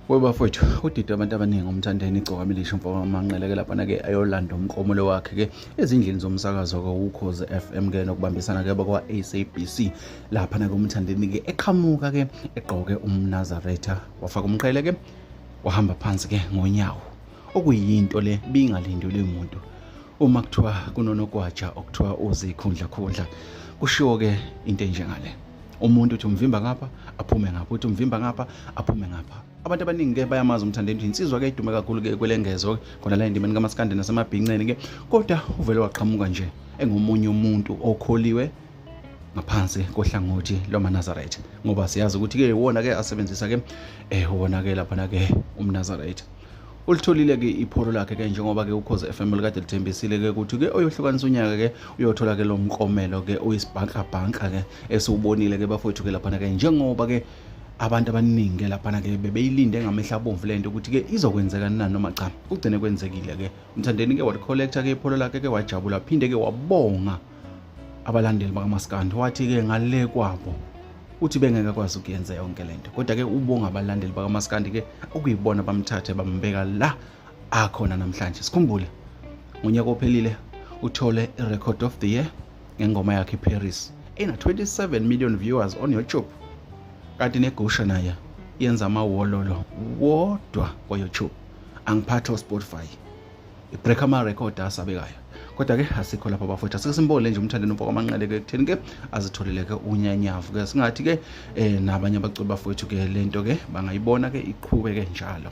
webafowethu udidwe abantu abaningi umthandeni igcoka milisho mfoka manqeleke laphana-ke ayolanda umklomulo wakhe-ke ezindlini zomsakazo-ke ukhozi f m ke nokubambisana-ke bakwa-sabc laphana-ke umthandeni-ke eqhamuka-ke egqoke umnazaretha wafaka umqhele-ke wahamba phansi-ke ngonyawo okuyinto le bingalindelwe umuntu uma kuthiwa kunonogwaja okuthiwa uzikhundlakhundla kushiwo-ke into enjengale umuntu uthi umvimba ngapha aphume ngapha uthi umvimba ngapha aphume ngapha abantu abaningi-ke bayamazi umthanda endini insizwa-ke idume kakhulu-ke kwelengezo khona la endimeni kamasikandi nasemabhinceni-ke kodwa uvele waqhamuka nje engomunye umuntu okholiwe ngaphansi kohlangothi lwamanazaretha ngoba siyazi ukuthi-ke iwona-ke asebenzisa-ke um eh, wona-ke laphana-ke umnazaretha ulitholile-ke ipholo lakhe-ke njengoba-ke ukhoze FM likade lithembisile-ke ukuthi-ke oyohlukanisa unyaka-ke uyothola-ke lo mkomelo-ke uyisibhankabhanka-ke esiwubonile-ke bafowethu-ke laphana-ke njengoba-ke abantu abaningi-ke laphana-ke bebeyilinde ngamehla abomvu le nto ukuthi-ke izokwenzeka na noma cha kugcine kwenzekile-ke umthandeni-ke walicollector-ke ipholo lakhe-ke wajabula phinde-ke wabonga abalandeli bakamaskandi wathi-ke ngale kwabo uthi bengeke kwazi ukuyenza yonke le nto kodwa-ke ubonga abalandeli bakamaskandi-ke okuyibona bamthathe bambeka la akhona namhlanje sikhumbule ngonyaka ophelile uthole i-record of the year ngengoma yakhe iparis ena-27 million viewers on youtube kanti negusha naye yenza amawololo wodwa kwayoutube angiphathi ospotify ibreak ama record asabekayo kodwa ke asikho lapha bafowethu asike simbole nje umthandeni umfoko amanqele ke ekutheni ke azitholele ke unyanyavu ke singathi ke eh nabanye abaculi bafowethu ke lento ke bangayibona ke iqhube ke njalo